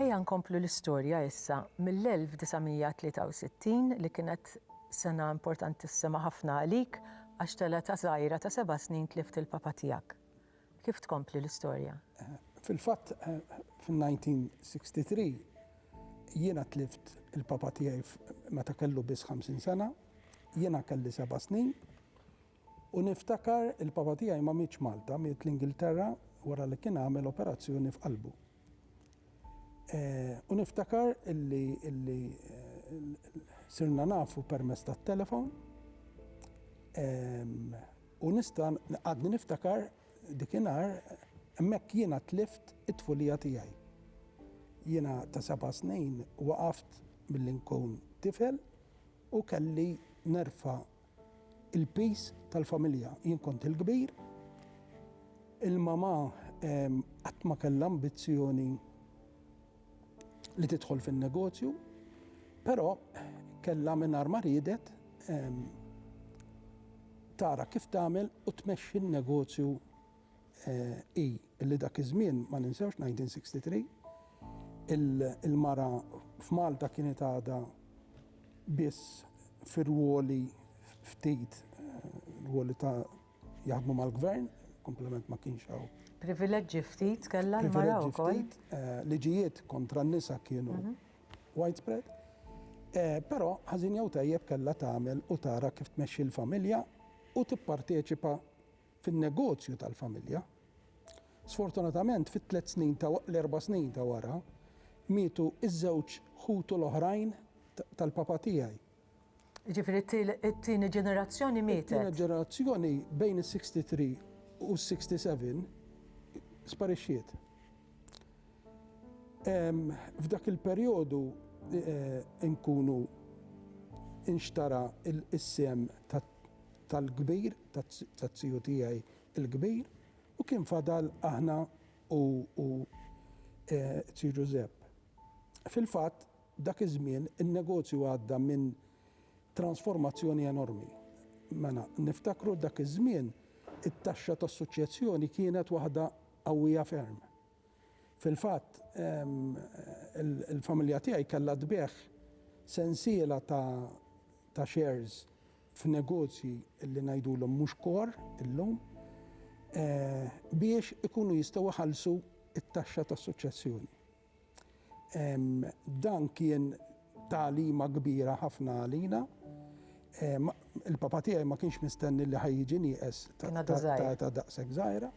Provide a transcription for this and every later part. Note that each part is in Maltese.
Ejja nkomplu l-istorja issa mill-1963 li kienet sena importantissima ħafna għalik għax t'età żgħira ta' seba' snin tlift il-papa tiegħek. Kif tkompli l-istorja? Fil-fatt fin-1963 jiena tlift il-papa tiegħi meta kellu biss 50 sena, jiena kelli seba' snin. U niftakar il-papa tiegħi ma mietx Malta, miet l-Ingilterra wara li kien għamel operazzjoni f'qalbu. U niftakar illi illi sirna nafu permezz tat-telefon u nista' għadni niftakar dikinhar hemmhekk jiena tlift it-tfulija tiegħi. Jiena ta' seba' snin waqaft milli nkun tifel u kelli nerfa' il-piż tal-familja. Jien kont il-kbir, il-mama qatt ma kellha ambizzjoni li tidħol fin-negozju, però kellha mingħajr ma riedet tara kif tagħmel u tmexxi n-negozju hi li dak iż-żmien, ma ninsewx, 1963, il-mara f'Malta kienet għadha biss fi rwoli ftit, rwoli ta' jaħdmu mal-Gvern, kumplament ma kienx hawn. Privileġġi ftit kellha l-mara wkoll. Privileġġi ftit, liġijiet kontra n-nisa kienu widespread. Però ħażin jew tajjeb kellha tagħmel u tara kif tmexxi l-familja u tipparteċipa fin-negozju tal-familja. Sfortunatament fit-tliet snin ta' l-erba' snin ta' wara mietu ż-żewġ ħutu l-oħrajn tal-papa tiegħi. Jiġifieri t-tieni ġenerazzjoni mietet. It-tieni ġenerazzjoni bejn is-63 u s-67 sparixxiet. F'dak il-perjodu nkunu inxtara s-sehem tal-kbir, taz-ziju tiegħi l-kbir, u kien fadal aħna u u ziju Ġużepp. Fil-fatt, dak iż-żmien in-negozju għadda minn transformazzjoni enormi. Mela, niftakru dak iż-żmien it-taxxa tas-suċċessjoni kienet waħda qawwija ferm. Fil-fatt, il-familja tiegħi kellha tbigħ sensiela ta' shares f'negozji li ngħidulhom mhux core illum biex ikunu jistgħu jħallsu t-taxxa tas-suċċessjoni. Dan kien tagħlima kbira ħafna għalina. Il-papà tiegħi ma kienx mistenni li ħa jiġi nieqes ta' età daqshekk żgħira.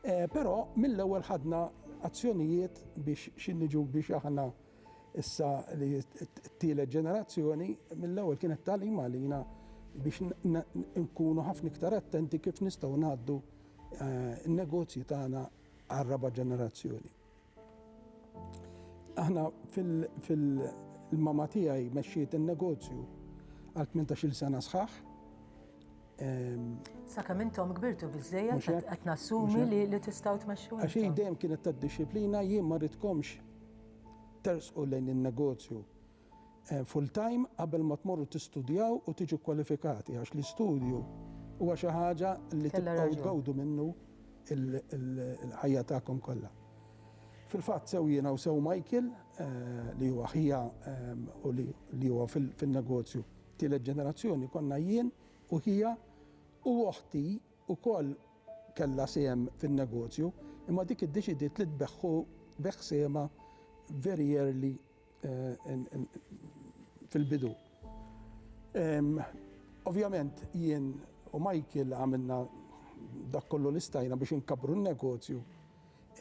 Però mill-ewwel ħadna azzjonijiet biex xi niġu biex aħna issa li t-tielet ġenerazzjoni, mill-ewwel kienet tagħlim għalina biex nkunu ħafna iktar attenti kif nistgħu ngħaddu n-negozji tagħna għar-raba' ġenerazzjoni. Aħna fil-mama tiegħi mexxiet in-negozju għal 18-il sena sħaħ. Ehm, Sakemm intom kbirtu biżejjed qed nassumi li tistgħu tmexxu. Għax dejjem kienet tad-dixxiplina jien ma ridkomx tersqu lejn in-negozju full-time qabel ma tmorru tistudjaw u tiġu kkwalifikati għax l-istudju huwa xi ħaġa li tibqgħu tgawdu minnu l-ħajja tagħkom kollha. Fil-fatt sew jiena u sew Michael li huwa ħija u li huwa fin-negozju tielet ġenerazzjoni konna jien u ħija u oħti wkoll kellha sehem fin-negozju imma dik iddeċidiet li tbeħħu beħ sehemha very early fil-bidu. Ovvjament jien u Michael għamilna dak kollu li stajna biex inkabbru n-negozju.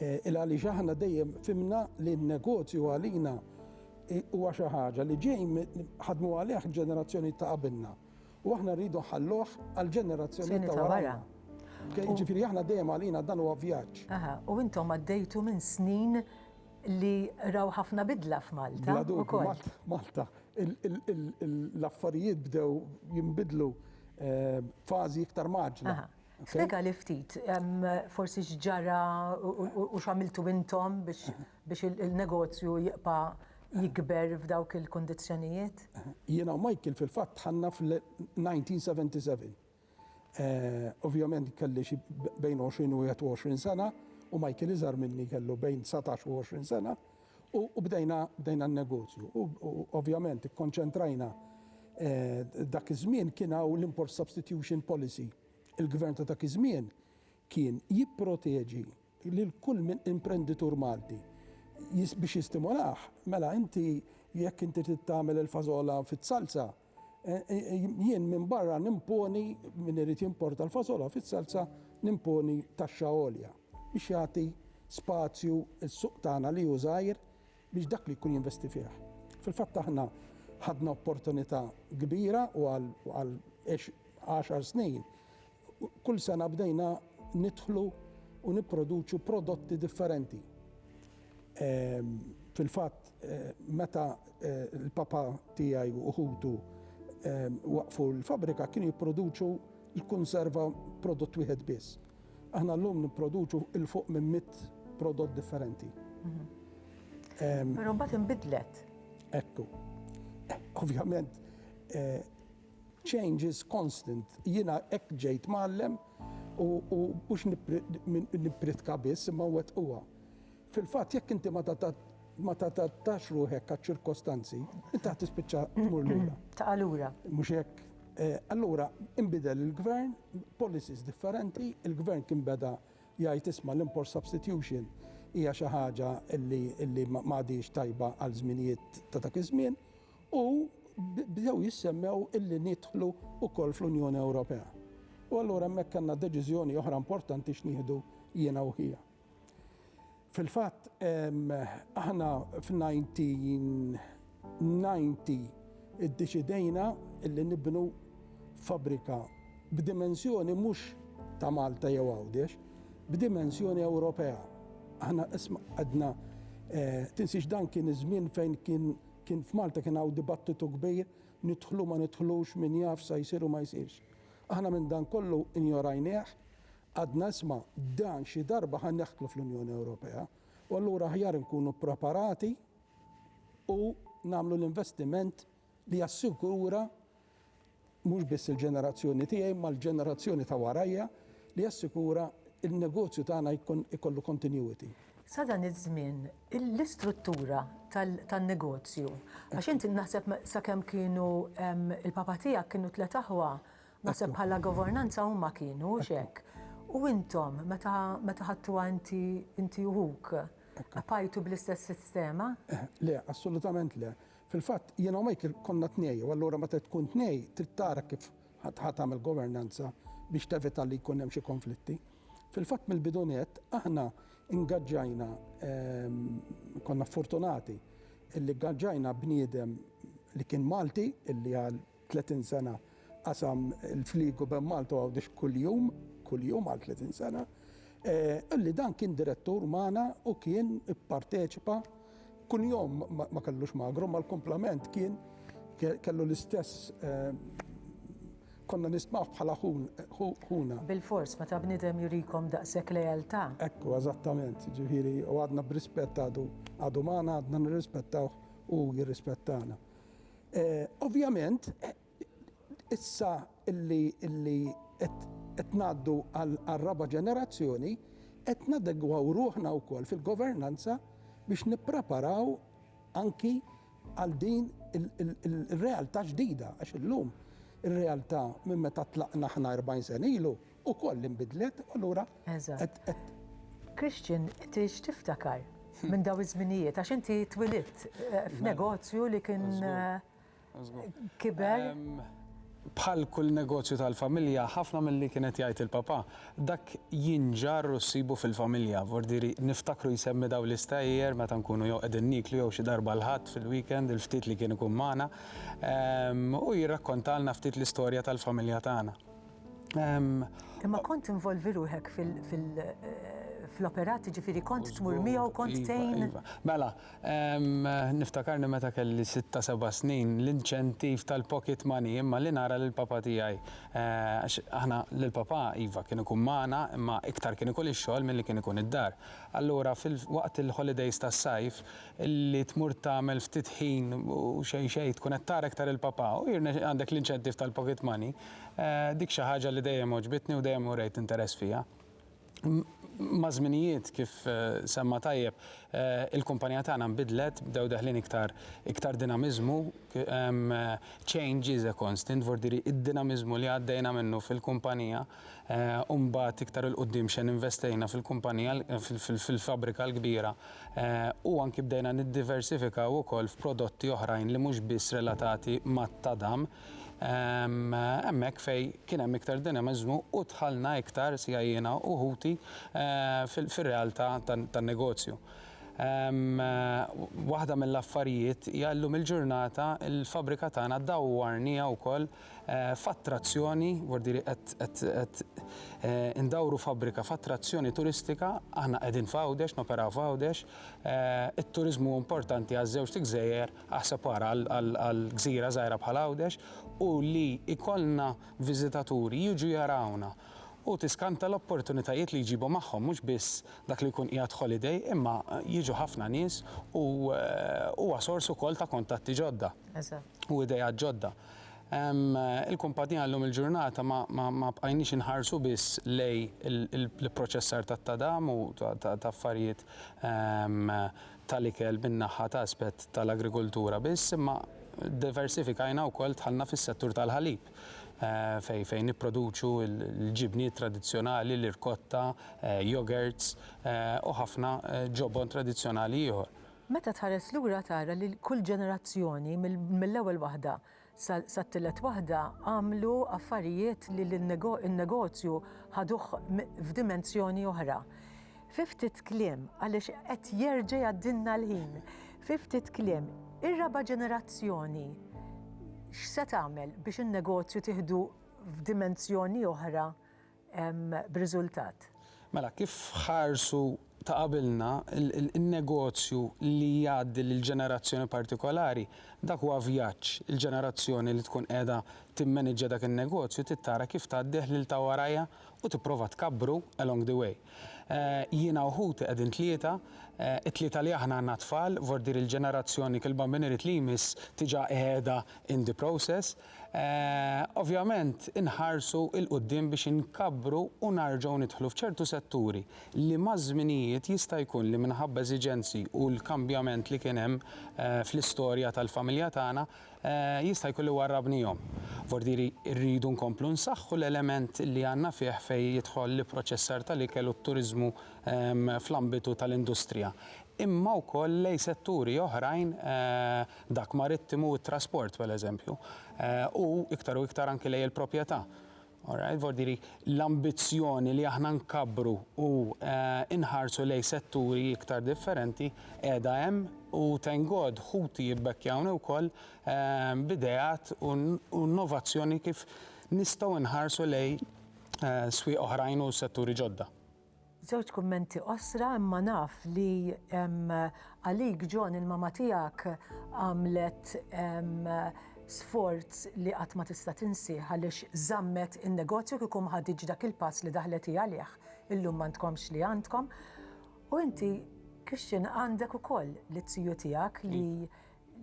Il għaliex aħna dejjem fimna li n-negozju għalina huwa xi ħaġa li ġej ħadmu għalih ġenerazzjonijiet ta' qabilna u aħna rridu nħalluh għall-ġenerazzjonijiet ta' warajna. Jiġifieri aħna dejjem għalina dan huwa vjaġġ. Aha, u intom għaddejtu minn snin li raw ħafna bidla f'Malta. Bla dubju, Malta, l-affarijiet bdew jinbidlu eh, fażi iktar maġla. Spjega li ftit, forsi x'ġara u x'għamiltu intom biex il-negozju jibqa' jikber f'dawk il-kondizzjonijiet? Jiena u Michael fil-fatt ħanna fl-1977. Ovvjament kelli xi bejn 20 u 21 sena u Michael iżgħar minni kellu bejn 19 u 20 sena u bdejna bdejna n-negozju. U ovvjament ikkonċentrajna dak iż-żmien kien hawn l-import substitution policy. Il-Gvern ta' dak iż-żmien kien jipproteġi lil kull min imprenditur Malti. Biex jistimolah, mela inti jekk inti trid tagħmel il-fażola fiż-salsa, jien minn barra nimponi min irid jimporta l-fasola fis-salsa nimponi taxxa għolja biex jagħti spazju s-suq tagħna li hu żgħir biex dak li jkun jinvesti fih. Fil-fatt aħna ħadna opportunità kbira u għal għaxar snin Kull sena bdejna nidħlu u nipproduċu prodotti differenti. Fil-fatt meta l-papà tiegħi u ħutu waqqfu l-fabbrika kienu jipproduċu l-kunserva prodott wieħed biss. Aħna llum nipproduċu 'l fuq minn mitt prodott differenti. Però mbagħad inbidlet. Ekku. Ovvjament Change is constant, jiena hekk ġejt mgħallem u mhux nippritka biss imma nwettquha. Fil-fatt jekk inti ma tadattax ruħek għaċ-ċirkostanzi, inti ħa tispiċċa tmur lura. Taqa' lura. Mhux hekk? Allura inbidel il-Gvern, policies differenti, il-Gvern kien beda jgħid isma' l-import substitution hija xi ħaġa li m'għadhiex tajba għal żminijiet ta' dak iż-żmien. u bdew jissemmew illi nidħlu wkoll fl-Unjoni Ewropea. U allura hemmhekk kellna deċiżjoni oħra importanti x'nieħdu jiena u ħija. Fil-fatt, aħna f'nineteen iddeċidejna illi nibnu fabbrika b'dimensjoni mhux ta' Malta jew Għawdex, b'dimensjoni Ewropea. Aħna isma' għedna, tinsiex dan kien iż-żmien fejn kien Kien f'Malta kien hawn dibattitu kbir, nidħlu ma nidħlux, min jaf sa jsir u ma jsirx. Aħna minn dan kollu injorajnieh, għadna isma' dan xi darba ħa neħtlu fl-Unjoni Ewropea u allura aħjar inkunu ppreparati u nagħmlu l-investiment li jassigura mhux biss il-ġenerazzjoni tiegħi imma l-ġenerazzjoni ta' warajja li jassikura n-negozju tagħna jkun ikollu continuity. Sa dan iż-żmien l-istruttura tan-negozju, għax inti naħseb sakemm kienu l-papa tiegħek kienu tliet aħwa, naħseb bħala governanza huma kienu, hux hekk? U intom meta ħadtuha inti inti u ħuk, bqajtu bl-istess sistema? Le, assolutament le. Fil-fatt, jiena u Michael konna tnej u allura meta tkun tnej trid tara kif ħa tagħmel governanza biex tevita li jkun hemm xi konflitti. Fil-fatt mill-bidu nett aħna ingaġġajna konna fortunati illi gaġġajna bniedem li kien Malti illi għal 30 sena qasam il-fliegu bejn Malta u Għawdex kuljum, kuljum għal 30 sena, eh, li dan kien direttur magħna u kien ipparteċipa kull jom ma kellux magru, ma l-komplement kien kellu l-istess eh, konna nismaħ bħala ħuna. Bil-fors, ma ta' bnidem jurikom daqsek lejalta. Ekku, eżattament, ġifiri, u għadna b'rispett għadu, għadu maħna għadna nirrispettaw u jirrispettana. Ovvjament, issa li qed ngħaddu għar-raba' ġenerazzjoni, qed nadegwaw ruħna wkoll fil-governanza biex nippreparaw anki għal din ir-realtà ġdida, għax illum ir-realtà minn meta tlaqna aħna 40 sena ilu, ukoll li nbidlet u allura Eżatt. qed Christian, inti x'tiftakar minn dawn iż-żminijiet għax inti twilidt eh, f'negozju li kien eh, kiber? Bħal kull negozju tal-familja, ħafna mill-li kienet jgħid il-papa, dak jinġar u ssibu fil-familja. Vordiri, niftakru jsemmi daw l-istajjer meta nkunu jew qegħdin niklu jew xi darba l-ħadd fil-weekend, il-ftit li kien ikun magħna, ehm, u jirrakkontalna ftit l-istorja tal-familja tagħna. Imma kont involvi ruħek fil-operati ġifiri kont tmur miegħu kont tejn. Iva, mela, niftakarni meta kelli 6-7 snin l-inċentiv tal-pocket money imma li nara lil papa tiegħi. Aħna lil papa iva kien ikun magħna imma iktar kien ikun ix-xogħol milli kien ikun id-dar. Allura waqt il-holidays tas-sajf li tmur tagħmel ftit ħin u xejn xejn tkun qed tara iktar lil papa u għandek l-inċentiv tal-pocket money Dik xi ħaġa li dejjem għoġbitni u dejjem urejt interess fiha. Maż-żminijiet, kif semma tajjeb, il-kumpanija tagħna nbidlet, bdew deħlin iktar iktar dinamiżmu, change is a constant, vordieri id-dinamiżmu li għaddejna minnu fil-kumpanija u mbagħad iktar 'il quddiem x'għen investejna fil-kumpanija fil-fabbrika l-kbira u anki bdejna niddiversifikaw ukoll f'prodotti oħrajn li mhux biss relatati mat-tadam. Hemmhekk fejn kien hemm iktar dinamiżmu u dħalna iktar, sija jiena u ħuti, fir-realtà tan-negozju. Waħda mill-affarijiet hija llum il-ġurnata l-fabbrika tagħna dawwarniha wkoll f'attrazzjoni, vuol-dire qed indawru fabbrika f'attrazzjoni turistika, aħna qegħdin f'Għawdex, noperaw f'Għawdex, it-turiżmu hu importanti għaż-żewġt gżejjer Aħseb ara għal gżira żgħira bħal Għawdex u li jkollna viżitaturi jiġu jarawna u tiskanta l-opportunitajiet li jġibu magħhom mhux biss dak li jkun qiegħed holiday imma jiġu ħafna nies u huwa sors ukoll ta' kuntatti ġodda u ideat ġodda. Il-kumpanija llum il-ġurnata ma bqajniex inħarsu biss lejn l-ipproċessar tat-tadam u ta' affarijiet tal-ikel min-naħa ta' aspett tal-agrikultura biss imma ddiversifikajna wkoll dħalna fis-settur tal-ħalib fejn nipproduċu l-ġibniet tradizzjonali, l-irkotta, yogurts u ħafna ġobon tradizzjonali ieħor. Meta tħares lura tara li kull ġenerazzjoni mill-ewwel waħda Sat-tielet waħda għamlu affarijiet li n-negozju ħaduh f'dimensjoni oħra. Fi ftit kliem, għaliex qed jerġa' jgħaddilna l-ħin, fi ftit kliem, ir-raba' ġenerazzjoni x'se tagħmel biex in-negozju tieħdu f'dimensjoni oħra b'riżultat. Mela, kif ħarsu ta' qabilna, in-negozju li jgħaddi lil ġenerazzjoni partikolari, dak huwa vjaġġ. Il-ġenerazzjoni li tkun qiegħda timmaniġġja dak in-negozju trid tara kif tgħaddih lil ta' warajha u tipprova tkabbru along the way. Jiena u ħuti qegħdin tlieta, it-tlieta li aħna għandna tfal, vordir il-ġenerazzjoni, il-Bambini Riti li jmiss diġà qiegħda in the process. Ovvjament inħarsu 'l quddiem biex inkabbru u narġgħu nidħlu f'ċertu setturi li maż-żminijiet jista' jkun li minħabba eżiġenzi u l-kambjament li kien hemm fl-istorja tal-familja tagħna jista' jkun li warrabnihom. Vordieri rridu nkomplu nsaħħu l-element li għandna fih fejn jidħol l-ipproċessar tal-ikel u t-turiżmu fl-ambitu tal-industrija imma wkoll lejn setturi oħrajn dak marittimu u t-trasport pereżempju, u iktar u iktar anki lejn il-proprjetà. Alright, vordiri l-ambizzjoni li aħna nkabbru u inħarsu lejn setturi iktar differenti qiegħda hemm u thank God ħuti jibbekkjawni wkoll b'ideat u innovazzjoni kif nistgħu nħarsu lejn swieq oħrajn u setturi ġodda. Żewġ kummenti qosra imma naf li għalik John il-mama tiegħek għamlet sforz li qatt ma tista' tinsih għaliex żammet in-negozju kieku ma ħaditx dak il-pass li daħlet hi għalih illum m'għandkomx li għandkom. U inti Christian għandek ukoll l-ziju tiegħek li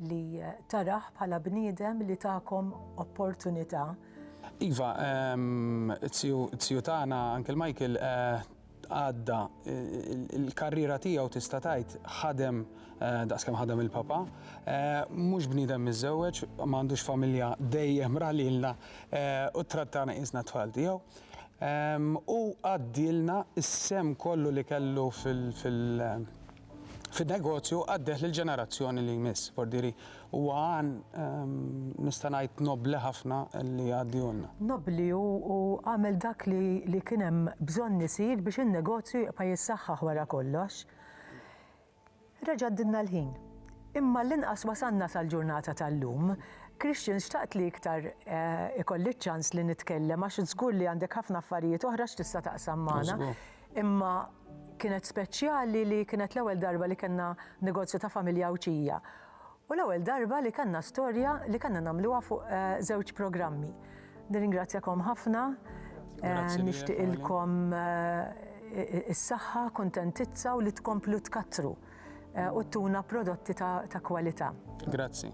li tarah bħala bniedem li takom opportunità. Iva, t-tiju tagħna Uncle Michael għadda l-karriera tiegħu tista' tgħid ħadem daqs kemm ħadem il-Papa. Mhux bniedem miżżewweġ, ma għandux familja dejjem ra lilna u ttrattana qisna t-tfal tiegħu. Hu għaddielna s-sehem kollu li kellu fil- fin-negozju għaddieh lill-ġenerazzjoni li jmiss. Fordieri, huwa għan, nista' ngħid, nobbli ħafna li jgħaddihulna. Nobbli u għamel dak li kien hemm bżonn isir biex in-negozju jibqa' jissaħħaħ wara kollox. Reġa' għaddilna l-ħin. Imma għall-inqas wasalna sal-ġurnata tal-lum. Christian, xtaqt li iktar ikolli ċ-ċans li nitkellem għax żgur li għandek ħafna affarijiet oħra x'tista' taqsam magħna. Imma kienet speċjali li kienet l-ewwel darba li kellna negozju ta' familja Għawdxija u l-ewwel darba li kellna storja li kellna nagħmluha fuq żewġ programmi. Nirringrazzjakom ħafna, nixtieqilkom is-saħħa, kuntentizza u li tkomplu tkattru u ttuna prodotti ta' kwalità. Grazzi.